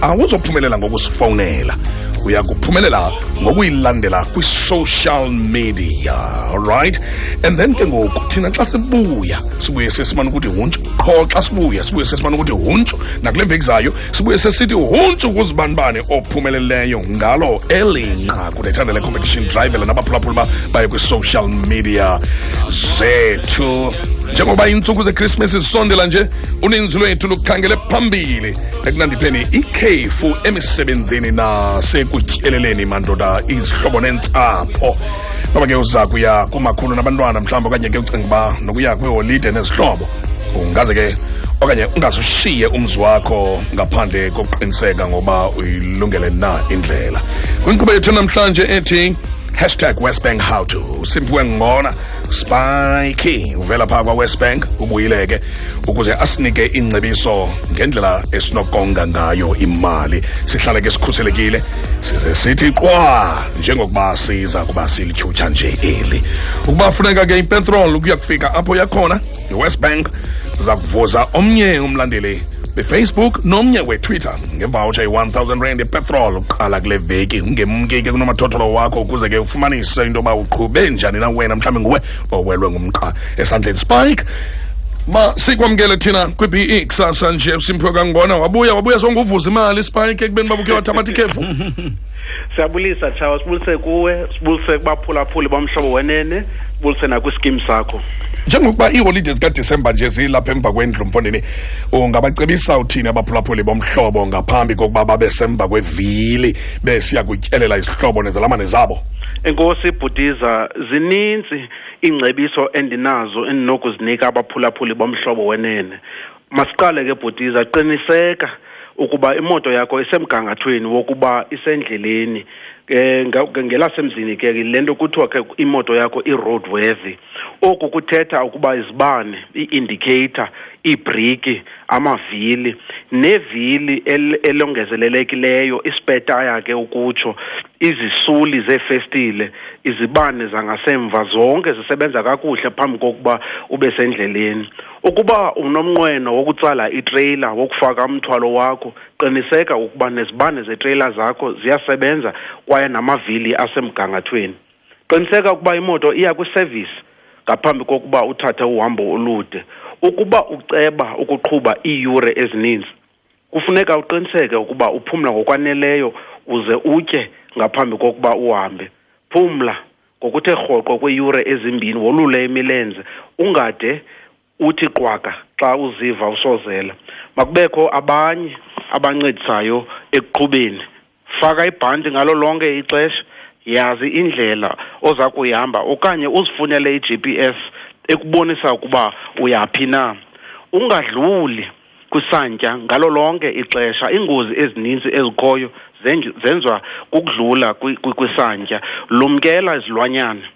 awuzophumelela ngokusifowunela uya kuphumelela ngokuyilandela kwi-social media alright and then ke ngoku thina xa sibuya sibuye sesimane ukuthi huntshu qho xa sibuya sibuye sesimane ukuthi huntshu nakule mveki zayo sibuye sesithi huntshu kuzibanibani ophumeleleyo ngalo eli nqaku lethanda le-competition drivela nabaphulaphula uba baye kwi-social media zethu njengoba iintsuku zechristmas zisondela nje uninzi lwethu lukhangele phambili ekunandi pleni ikhefu emisebenzini nasekutyeleleni mandoda izihlobo nentsapho noba ke uza kuya kumakhulu nabantwana mhlawumbi okanye ke ucinga uba nokuya kwiholide nezihlobo ungaze ke okanye ungazushiye umzi wakho ngaphandle kokuqiniseka ngoba uyilungele na indlela kwinkqubo yethu namhlanje ethi hashtag westbank how to simphiwe ngona spike uvela phaa kwawest bank ubuyile ke ukuze asinike iingcebiso ngendlela esinokonga ngayo imali sihlale ke sikhuselekile size sithi qwa njengokuba siza kuba silityhutsha nje eli ukuba funeka ke ipetrol ukuya kufika apho yakhona iwest bank siza kuvuza omnye umlandeli befacebook nomnye wetwitter ngevawutsha i-1000 rand epetrol uqala kule veki ungemke ke kunomathotholo wakho ukuze ke ufumanise into yoba uqhube njani na wena mhlawumbi nguwe owelwe ngumqa esandleni spike ma sikwamkele thina kwi-be kusasa nje usimphiwe kangona wabuya wabuya songuvuza imali spike ekubeni babukhe wathabatha ikhefu siyabulisa tshawa sibulise kuwe sibulise kubaphulaphuli bomhlobo wenene sibulise nakwiskim sakho njengokuba iiholide zikadisemba nje zilapha emva kwendlu mfondini ungabacebisa uthini abaphulaphuli bomhlobo ngaphambi kokuba babe semva kwevili besiya kutyelela izihlobo nezalamane zabo enkosi ibhutiza zininzi iingcebiso endinazo endinokuzinika abaphulaphuli bomhlobo wenene masiqale ke bhutiza qiniseka ukuba imoto yakho isemgangathweni wokuba isendleleni eh ngelasemzini ke lento kuthiwa ke imoto yakho i-road worthy oku kuthetha ukuba izibane i-indicator iibriki amavili nevili elongezelelekileyo ispetaya ke ukutsho izisuli zeefestile izibane zangasemva zonke zisebenza kakuhle phambi kokuba ube sendleleni Ukuba unomnqweno wokutsala itreyila wokufaka umthwalo wakho, qiniseka ukuba nezibane zetreyila zakho ziyasebenza kwaye namavili asemgangathweni. Qiniseka ukuba imoto iya kwisevisi ngaphambi kokuba uthathe uhambo olude. Ukuba uceba ukuqhuba iiyure ezininzi, kufuneka uqiniseke ukuba uphumla ngokwaneleyo uze utye ngaphambi kokuba uhambe. Phumla. ngokuthe rhoqo kweeyure ezimbini wolule imilenze ungade uthi qwaka xa uziva usozela makubekho abanye abancedisayo ekuqhubeni faka ibhanti ngalo lonke ixesha yazi indlela oza kuyihamba okanye uzifunele i-g p s ekubonisa ukuba uyaphi na ungadluli kusantya ngalo lonke ixesha iingozi ezininzi ezikhoyo zenziwa kukudlula kwisantya lumkela izilwanyana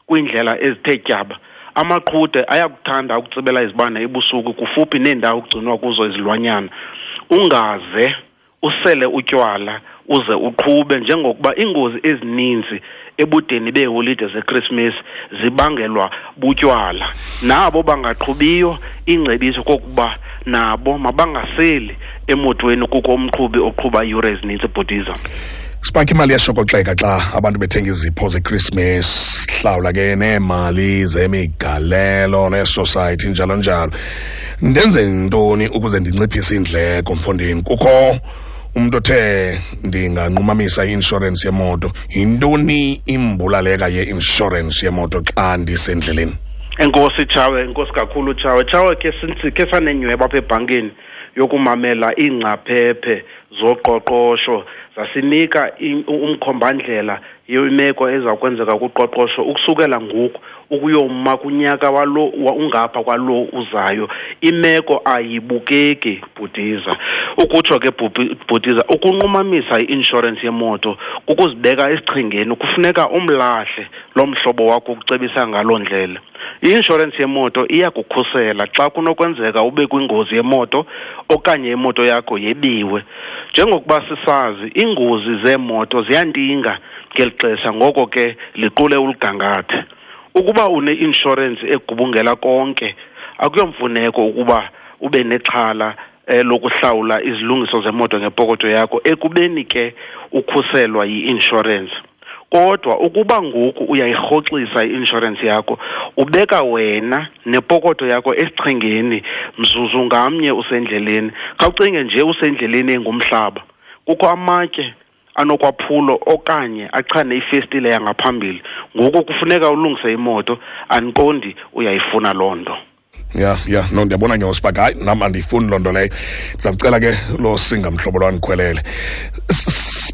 kwiindlela ezithe tyaba amaqhude ayakuthanda ukutsibela izibane ebusuku kufuphi neendawo kugcinwa kuzo izilwanyana ungaze usele utywala uze uqhube njengokuba iingozi ezininzi ebudeni beeholide zeKrismesi zibangelwa butywala nabo bangaqhubiyo ingcebiso kokuba nabo mabangaseli emotweni kukho umqhubi oqhuba iiyure ezininzi ebhutiza sibakho imali yashokoxeka xa abantu bethenga izipho zechristmas hlawula ke neemali zemigalelo neesosayithi njalo njalo ndenze ntoni ukuze ndinciphise iindleko mfondini kukho umuntu othe ndinganqumamisa i-inshorensi yemoto yintoni imbulaleka ye-inshorensi yemoto xa ndisendleleni enkosi tshawe enkosi kakhulu tshawe tshawe ke sinsi ke sanenyweba apha ebhankini yokumamela iingcaphephe zoqoqosho zasinika umkhombandlela yiyo imeko eza kwenzeka kuqoqosho ukusukela ngoku ukuyoma kunyaka walo ungapha kwalo uzayo imeko ayibukeki bhutiza ukutsho ke bhutiza ukunqumamisa i-inshorensi yemoto kukuzibeka esichengeni kufuneka umlahle lo mhlobo wakho ukucebisa ngaloo ndlela I-inshorensi yemoto iyakukhusela xa kunokwenzeka ube kwingozi yemoto okanye imoto yakho yebiwe. Njengokuba sisazi, iingozi zeemoto ziyantinga ngeli xesha ngoko ke liqule uligangathe. Ukuba une-inshorensi egubungela konke, akuyomfuneko ukuba ube nexhala eh, lokuhlawula izilungiso zemoto ngepokotho yakho ekubeni ke ukhuselwa yi-inshorensi kodwa ukuba ngoku uyayirhoxisa i-inshorensi yakho ubeka wena nepokotho yakho esichengeni mzuzu ngamnye usendleleni khawucinge nje usendleleni engumhlaba kukho amatye anokwaphulo okanye achane ifestile yangaphambili ngoku kufuneka ulungise imoto andiqondi uyayifuna loo nto ya ya no ndiyabona nyosi uba hayi nam andiyifuni loo nto leyo ndiza kucela ke loo singa mhlobo lwa ndikhwelele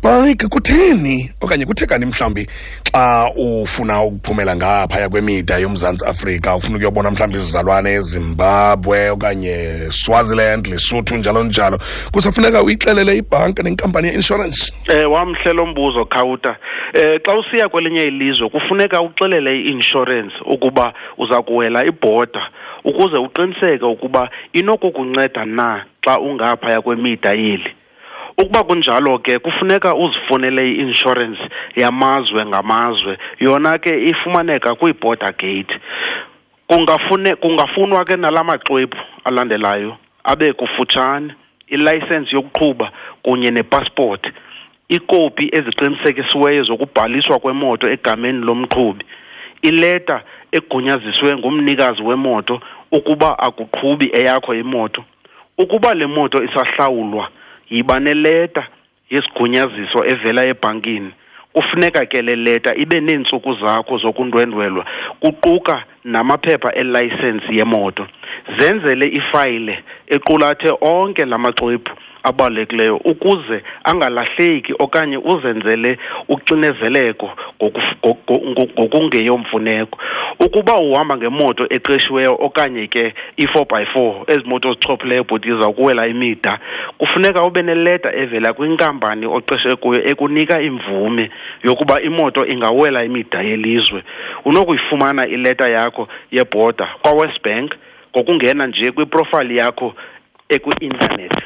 spike kutheni okanye kuthekani mhlawumbi xa ufuna ukuphumela ngaphaya kwemida yomzantsi afrika ufuna ukuyobona mhlawumbi izizalwane ezimbabwe okanye swaziland lesotho njalo njalo kusafuneka uyixelele ibhanka nenkampani yeinshorensi um eh, wamhle lo mbuzo khawuta um eh, xa usiya kwelinye ilizwe kufuneka uxelele i-inshorensi ukuba uza kuwela ibhoda ukuze uqiniseke ukuba inokukunceda na xa ungaphaya kwemida yeli ukuba kunjalo ke kufuneka uzifunele i-inshorensi yamazwe ngamazwe yona ke ifumaneka kwii-border gate kungafune kungafunwa ke nala maxwebhu alandelayo abe kufutshane ilayisensi yokuqhuba kunye nepasipoti iikopi eziqinisekisiweyo zokubhaliswa kwemoto egameni lomqhubi ileta egunyaziswe ngumnikazi wemoto ukuba akuqhubi eyakho imoto ukuba le moto isahlawulwa yiba neleta yesigunyaziso evela ebhankini kufuneka ke le leta ibe neentsuku zakho zokundwendwelwa kuquka namaphepha elayisensi yemoto zenzele ifayile equlathe onke la maxwebhu abalulekileyo ukuze angalahleki okanye uzenzele uxinezeleko ngokungeyomfuneko ukuba uhamba ngemoto eqeshiweyo okanye ke i-four by four ezi moto zichophileyo bhuti izawukuwela imida kufuneka ube neleta evela kwinkampani oqeshe kuyo ekunika imvume yokuba imoto ingawela imida yelizwe unokuyifumana ileta yakho yebhoda kwawest bank ngokungena nje kwiprofayili yakho ekwi-intanethi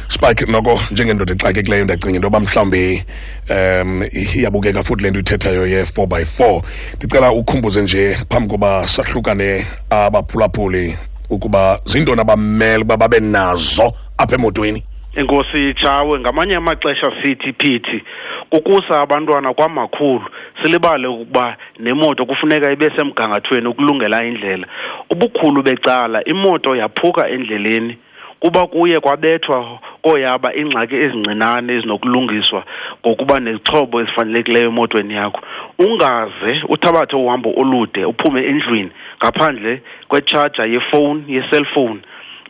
spark noko njengendoda exakekileyo ndacinga into yoba mhlawumbi um iyabukeka futhi le nto ithethayo ye-four by four ndicela ukhumbuze nje phambi koba sahlukane abaphulaphuli ukuba zintoni abamele uba babe nazo apha emotweni enkosi itshawe ngamanye amaxesha sithi phithi kukusa abantwana kwamakhulu silibale ukuba nemoto kufuneka ibe semgangathweni ukulungela indlela ubukhulu becala imoto yaphuka endleleni kuba kuye kwabethwa kooyaba iingxaki ezincinane ezinokulungiswa ngokuba nezixhobo ezifanelekileyo emotweni yakho ungaze uthabathe uhambo olude uphume endlwini ngaphandle kwetshaja yefowuni yeselfowuni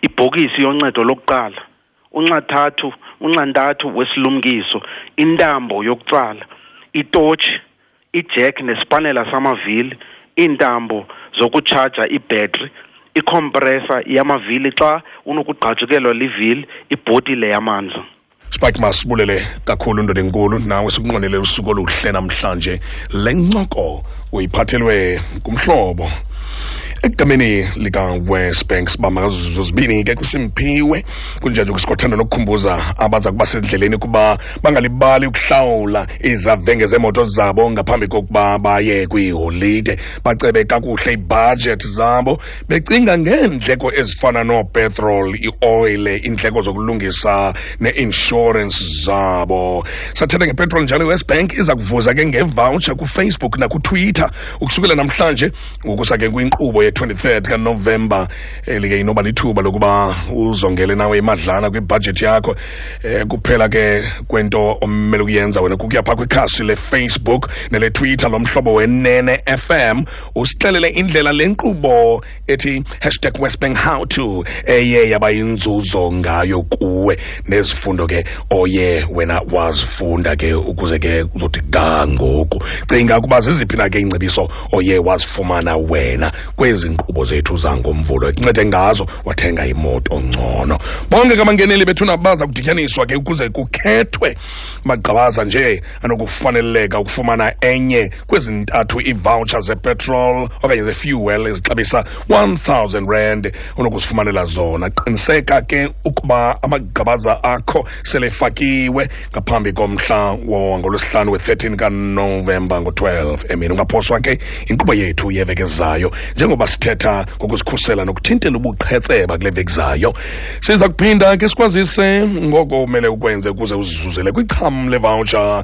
ibhokisi yoncedo lokuqala unxathathu unxantathu wesilumkiso intambo yokutsala itotshi ijek nesipanela samavili iintambo zokutshaja ibhetri ikhompresa yamavili xa unokugqajukelwa livili ibhotile yamanzi spike masibulele kakhulu ndoda enkulu nawe sikunqwenele usuku oluhle namhlanje le ncoko uyiphathelwe ngumhlobo ekugameni likawest bank sibamba ngazo zibini ke kusimphiwe kunjanje kusikothanda nokukhumbuza abaza kuba sendleleni ukuba bangalibali ukuhlawula izavenge zeemoto zabo ngaphambi kokuba baye kwiiholide bacebe kakuhle iibhajethi zabo becinga ngeendleko ezifana noopetrol ioyile iindleko zokulungisa neinshorensi zabo sathetha ngepetrol njalo iwest bank iza kuvuza ke ngevoucher kufacebook nakutwitter ukusukela namhlanje ukusa ke kwinkqubo ye-23 kanovemba elike inoba lithuba lokuba uzongele nawe imadlana kwibhajethi yakho eh, kuphela ke kwento omele ukuyenza wena kukuya phaa kwikhasi lefacebook neletwitter lomhlobo wenene fm usixelele indlela le nkqubo ethi hashtag westbank how to eye yaba yinzuzo ngayo kuwe nezifundo ke oye wena wazifunda ke ukuze ke uzothi ga ngoku cinga ukuba ziziphi na ke iingcebiso oye wazifumana wena kwezi nkqubo zethu zangomvulo ekuncede ngazo wathenga imoto ngcono bonke kamangeneli bethu nabaza kudityaniswa ke ukuze kukhethwe magqabaza nje anokufaneleka ukufumana enye kwezi ntathu iivoucher zepetrol okanye zefuel ezixabisa 1000 rand unokuzifumanela zona qiniseka ke ukuba amagqabaza akho selefakiwe ngaphambi komhla wangolwesihlanu we-13 kanovemba ngo-12 emini ungaphoswa ke inkqubo yethu yeveki ezayo njengoba sithetha ngokuzikhusela nokuthintela ubuqhetseba kule veki zayo siza kuphinda ke sikwazise ngoko umele ukwenze ukuze uzizuzele kwicham levoucher